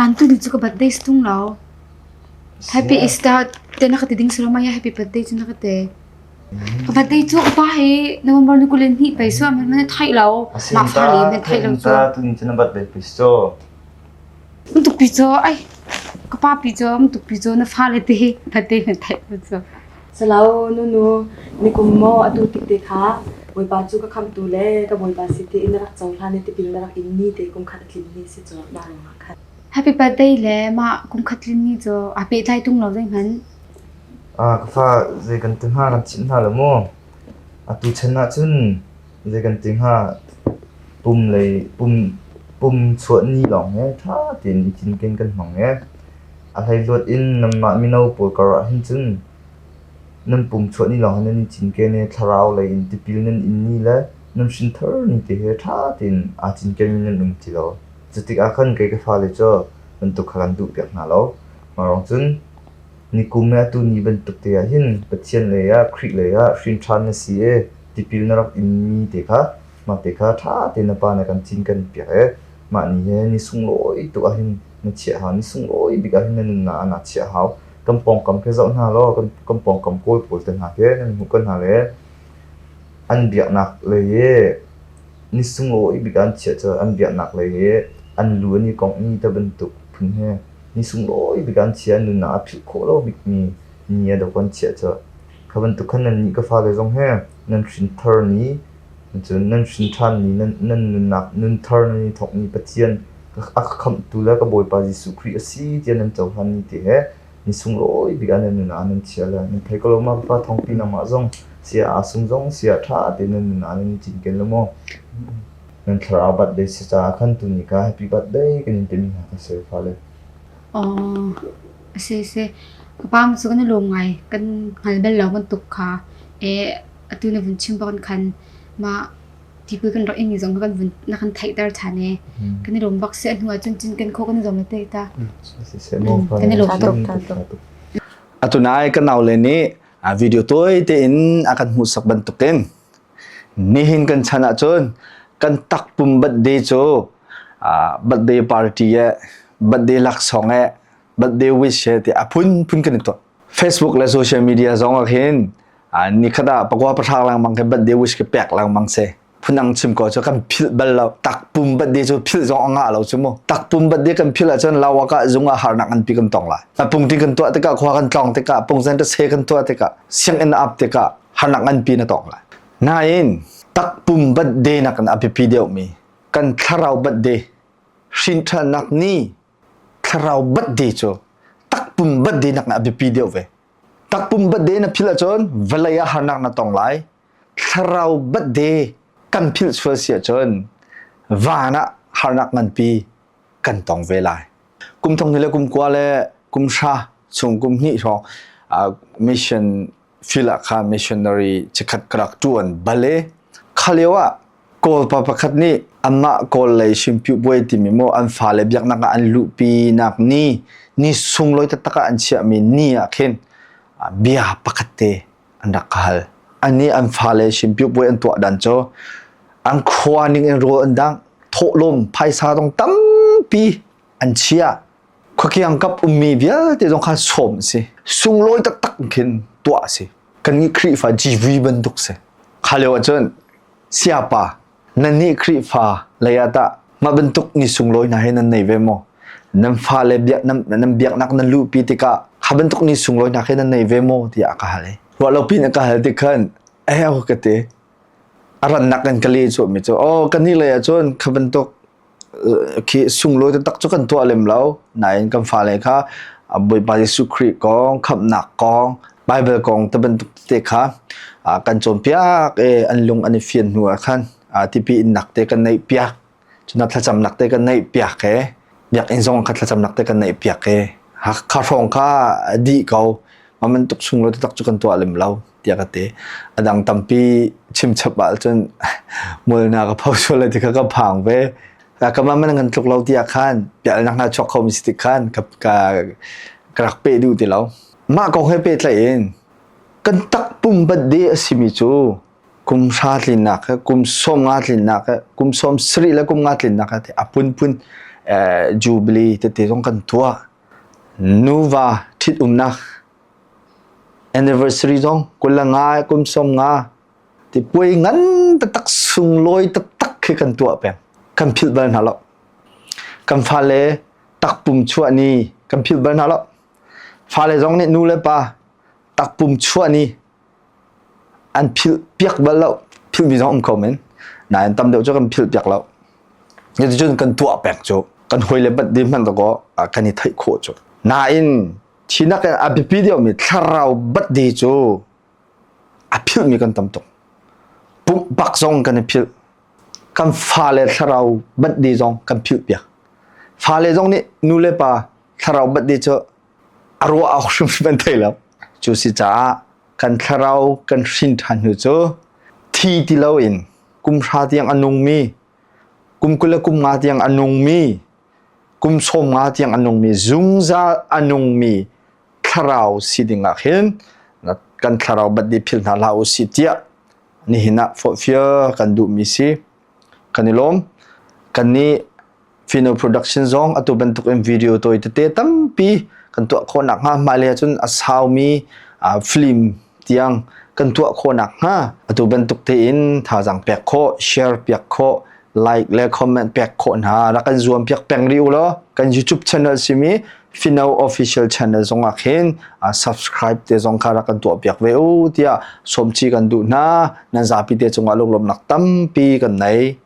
nan tu ni cu ka birthday tung lo happy easter te na ka ti ding silo mai happy birthday cu na ka ti ka birthday cu upa he november ni kulen ni pei suam han man thai lo ma far li men thai lo tu tu ni na birthday pi so mun tuk pi cho ai ka pa pi cho mun tuk pi cho na fa le te birthday men thai tu so Salo, nunu, nikum maw atu tik te kha Bawipa cu ka khamtu le ka Bawipa si tiin na rak cohlan i tipil na rak inmi te kum khat a tlin ni si cu na ruangah khan. Happy birthday le mah kumkhat tlinni cu aa pehtlai tung lo zeihmanh. Ka fa zei kan ti hna kan chimh hna lo maw? Atu chan ah cun Zei kan ti hnga, pum lei pum chuah ni lawng hi ṭha tein i cinken kan hmang i a hleihluat in nanmah mino pawl karah hin cun nan pum chuah ni lawng hi nan i cinken i thlarau lei in tipil nan in ni le nan hrinthar ni te hi ṭha tein aa cinkenmi nan um ti lo. Cutikah khan kei ka fale cu bantuk kha kan duhpiak hna lo. Mah lawng cun Nikum i atu ni bantukte ah hin Pathian lei ah Khrih lei ah hrinṭhan na si i tipil na rak inmi te kha mah te kha ṭha tein na Pa nih a kan cinken piak i mah ni hi ni sunglawi tuk ahhin na chiah hau, ni sunglawi bik ahhin na nunnak ah naa chiah hau. Kan pawngkam khi zoh hna law kan, kan pawngkam Kawl pawl te hna khi nan hmuh ko hna le an biaknak lei i ni sunglawi bik ah an chiah cu an biaknak lei i an lu an i kongh mi ta bantuk phun hi Ni sunglawi bik ah an chiah i nunnak a philh khawh lo bikmi ni a dok an chiah colh. Kha bantuk khan nannih ka fale zong he nan hrinthar ni, cun nan hrinṭhan ni, nan, nan nunnak nunthar nan i thawk ni Pathian a ka khamhtu le ka Bawipa Jesuh Khrih a si tiah nan cohlan ni te he ni sunglawi bik ah nan nunnak nan chiah le nan thei ko lo ma Bafa thawngpi nangmah zong sia aa sum zong sia ṭha tein nan nunnak nan i cinken lo maw? Nan thlarau birthday si caah khan tu ni kha happy birthday kan in timi hna kan si fale. Oh, si si. Kapam su kan lung ngai kan ngal bel lo kan tuk kha. E atu na vun chim bak kan ma tipui kan rak ing zong kan vun na kan thai tar than e. Kan lung bak se hnu ah cun cin kan kho kan zong le te ta. Si si mo fale. Kan lung tuk. Atunai kan nau le nih a video toy te in akan hmuh sak bantukin Nihin kan chan ahcun kan takpum birthday cu birthday party e birthday laksawng e birthday wish e ti a phunphun kan i tuah facebook le social media zong ah khin nikhat ah pakua pahrang lengmang ke birthday wish ke pek lengmang se phunang chim ko cu kan philh bal lo takpum birthday cu philh zong a ngah lo cu mu takpum birthday kan philh ahcun lawak ah zung ah harnak nganpi kan tong lai na pungtin kan tuah tikah khua kan tlong tikah pungsen ta se kan tuah tikah sianginn ap tikah hanak nganpi na tong lai nain takpum batde nakin a biapi deuhmi kan thlarau batde hrinthalnak ni thlarau batde cu takpum batde nak a biapi deuh ve takpum batde na phil ahcun vawlei ah harnak na tong lai thlarau batde kan phil sual si ahcun van ah harnak nganpi kan tong ve lai kum thong le kum kua le kum sha chung kum hnih hrawng mission Filah missionary chikhat ka rak ṭuan bale kha lio ah Kawlpa pakhat nih amah Kawl lei hrimpihbuai timi maw an fale biaknak ah an luhpinak ni ni sunglawi taktak ah an chiahmi ni ah khin bia pakhat te an rak ka hal. An nih an fale hrimpihbuai an tuah dan cu an khua ning in rawl an dang thawhlawm phaisa dong tampi an chia. khuakiang kap ummi vialte zong kha sawm a si sunglawi taktak khin tuah a si kan nih Khrihfa GV bantuk si kha leo ahcun siapa nan nih Khrihfa leiah tah mah bantuk ni sunglawi hna hi nan nei ve maw nan fa le biak nan nan biaknak nan luhpi tikah kha bantuk ni sunglawi hna khi nan nei ve maw tiah ka hal i ruah lo pin ka hal ti khan eh ka te a rannak kan ka le chu mi chu oh kan ni lei ah cun kha bantuk khi sunglawi taktak cu kan tuah lem lo nain kan fale kha Bawipa Jesuh Khrih kong khamhnak kong Baibal kong te bantuk te kha kan cawnpiak i an lung an i fian hnu ah khan tipi innak te kan neih piak cuna thlacamnak te kan neih piak e biakinn zong kha thlacamnak te kan neih piak e kha hrawng kha dih ko ma man tuk sunglawi taktak cu kan tuah lem lo tiah ka ti a dang tampi chimchap ahcun molnak a phosual le ti kha ka phang ve kamah man ngan tluk lo tiah khan pialnak na chok khomi si ti khan ka ka ka rak pe duh ti lo mah kong he pe tlai in kan tak pum bat de asimi cu kum sha tlinnak he kum som nga tlinnak he kum som sri le kum nga tlinnak he apun pun jubilee te te zong kan tua nuva thit umnak Anniversary zong kul le nga, kum sawm nga, ti puai ngan taktak sunglawi taktak khi kan tuah peng. Kan philh bal hna lo. Kan fale takpum chuah ni kan philh bal hna lo. Fale zong nih nu le pa takpum chuah ni an philh piak bal lo. Philhmi zong um ko men. Nain tam deuh cu kan philh piak lo. Cuticun kan tuah peng cu. Kan hawi le bat di hmanh takaw kan i theih khawh cu. Nain Thi nak i a biapi deuhmi thlarau batde cu a philhmi kan tam tuk. Pumpak zong kan i philh. Kan fale thlarau batde zong kan philhpiak. Fale zong nih nu le pa thlarau batde cu a ruah awk hrimhrim an thei lo. Cu si caah kan thlarau kan hrin ṭhan hnu cu thi ti loin kum hra tiang a nungmi, kum kul le kum nga tiang a nungmi kum sawm nga tiang a nungmi zungzal a nungmi thlarau si dingah hin kan thlarau birthday phil hna hlah u si tiah nihin ah forhfial kan duhmi si kan i lawm kan nih Fino Production zong atu bantuk in video tawi tete tampi kan tuah khawh nak hnga mah le cun a saumi film tiang kan tuah khawh nakhnga atu bantuk tein thazaang pek khawh, share piak khawh, like le comment pek khawh hna. Rak kan zuam piak peng rih u law kan YouTube channel simi Fino Official Channel zongah khin subscribe te zong kha rak kan tuah piak ve u tiah sawmci kan duh hna. Nan zapi te cungah lunglawmnak tampi kan nei.